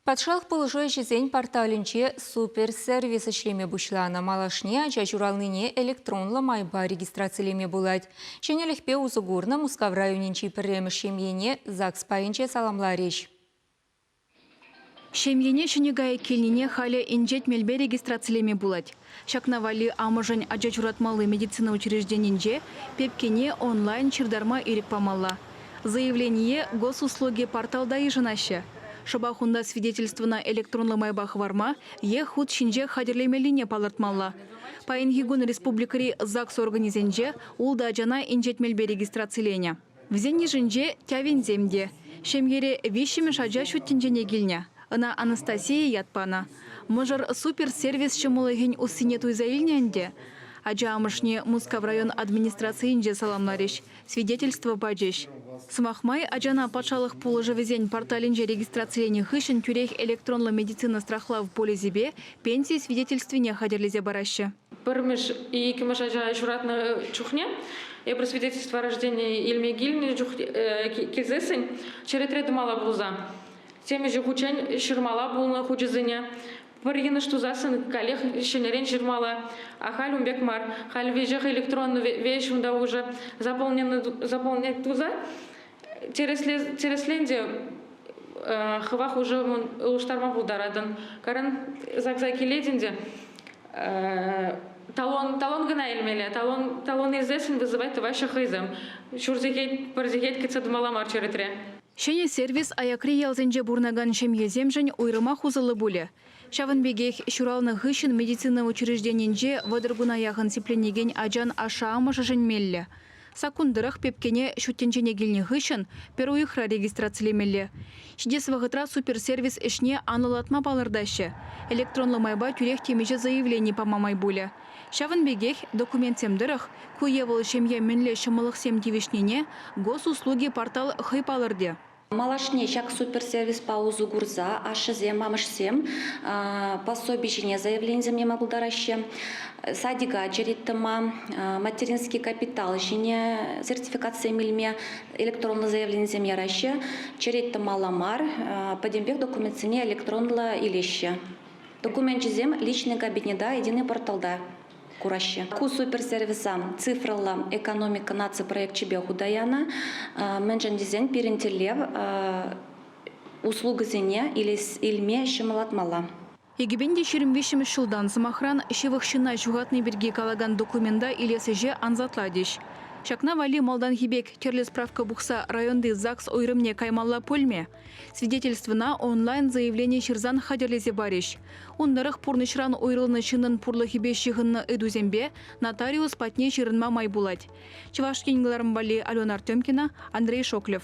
Патшалӑх пулӑшу ӗҫӗсен порталӗнче суперсервис ӗҫлеме пуҫланӑ. Малашне ача ҫуралнине электронлӑ майпа регистрацилеме пулать. Ҫӗнӗлӗхпе усӑ курнӑ Мускав районӗнчи пӗрремӗш ҫемьене ЗАГС пайӗнче саламларӗҫ. Ҫемьене ҫӗнӗ кайӑк килнине халӗ инҫет мелпе регистрацилеме пулать. Ҫакна валли амӑшӗн ача ҫуратмалли медицина учрежденинче пепкене онлайн ҫыртарма ирӗк памалла. Заявление Госуслуги порталта йышӑнаҫҫӗ. Шӑпах унта свидетельствӑна электронлӑ майпа хӑварма е хут ҫинче хатӗрлемеллине палӑртмалла. Паянхи кун республикӑри ЗАГС органӗсенче ултӑ ачана инҫет мелпе регистрациленӗ. Вӗсен йышӗнче Тявинсем те. Ҫемьере виҫҫӗмӗш ача ҫут тӗнчене килнӗ. Ӑна Анастасия ят панӑ. Мӑшӑр суперсервис ҫӑмӑллӑхӗн уссине туйса илнӗ ӗнтӗ. Ача амӑшне Мускав район администрацийӗнче саламларӗҫ, свидетельство пачӗҫ. Сӑмах май, ачана патшалӑх пулӑшӑвӗсен порталӗнче регистрациленӗ хыҫҫӑн тӳрех электронлӑ медицина страхлав полисӗпе пенси свидетельствине хатӗрлесе параҫҫӗ. пӗрмӗш, иккӗмӗш ача ҫуратнӑ чухне эпир свидетельство рождения илме килнӗ чух килсессӗн черетре тӑмалла пулса темиҫе хутчен ҫырмала пулнӑ хучӗсене пӗр йӑнӑш тусассӑн каллех ҫӗнӗрен ҫырмалла. А халь ун пек мар. Халь веҫех электронлӑ веҫ унта уже заполненный заполнять туса тӗрӗслен те хыва хушӑ улӑштарма пултаратӑн. Каран загса килетӗн те талон талон кӑна илмелле талон талон илсессӗн вызывать тӑваҫҫӗ хӑйсем ҫур сехет пӗр сехет кӗтсе тӑмалла мар черетре. Ҫӗнӗ сервис аякри ялсенче пурӑнакан ҫемьесемшӗн уйрӑмах усӑллӑ пулӗ. Ҫавӑн пекех ҫуралнӑ хыҫҫӑн медицина учрежденинче вӑтӑр куна яхӑн сипленекен ачан ашшӗ-амӑшӗшӗн меллӗ Саккун тӑрӑх пепкене ҫут тӗнчене килнӗ хыҫҫӑн пӗр уйӑхра регистрацилемелле. Ҫитес вӑхӑтра суперсервис ӗҫне анлӑлатма палӑртаҫҫӗ. Электронлӑ майпа тӳрех темиҫе заявлени пама май пулӗ. Ҫавӑн пекех документсем тӑрӑх ку е вӑл ҫемье мӗнле ҫӑмӑллӑхсем тивӗҫнине Госуслуги портал хӑй палӑртӗ. Малашне ҫак суперсервиспа усӑ курса ашшӗсем, амӑшсем пособи ҫине заявленисем яма пултараҫҫӗ. Садика череттӑма, материнский капитал ҫине сертификатсем илме электронлӑ заявленисем яраҫҫӗ. Череттӑмалла мар, пӗтӗмпех документсене электронлӑ илеҫҫӗ. Докуменчӗсем личный кабинета единый порталта кураҫҫӗ. Ку суперсервиса цифрӑлла экономика наци проекчӗпе хута янӑ, мӗншӗн тесен пирӗн тӗллев услугӑсене илме ҫӑмӑллатмалла. Эгипенте ҫирӗм виҫҫӗмӗш ҫултан, сӑмахран, ҫывӑх ҫынна ҫухатни пирки калакан документа илес ӗҫе ансатлатӗҫ. Ҫакна валли малтанхи пек тӗрлӗ справка пухса районти ЗАГС уйрӑмне каймалла пулмӗ? Свидетельствӑна онлайн-заявлени ҫырсан хатӗрлесе парӗҫ. Ун тӑрӑх пурнӑҫран уйрӑлнӑ ҫыннӑн пурлӑхӗпе ҫыхӑннӑ ыйтусемпе нотариус патне ҫырӑнма май пулать. Чӑваш Ен кӑларӑм валли Алена Артемкина, Андрей Шоклев.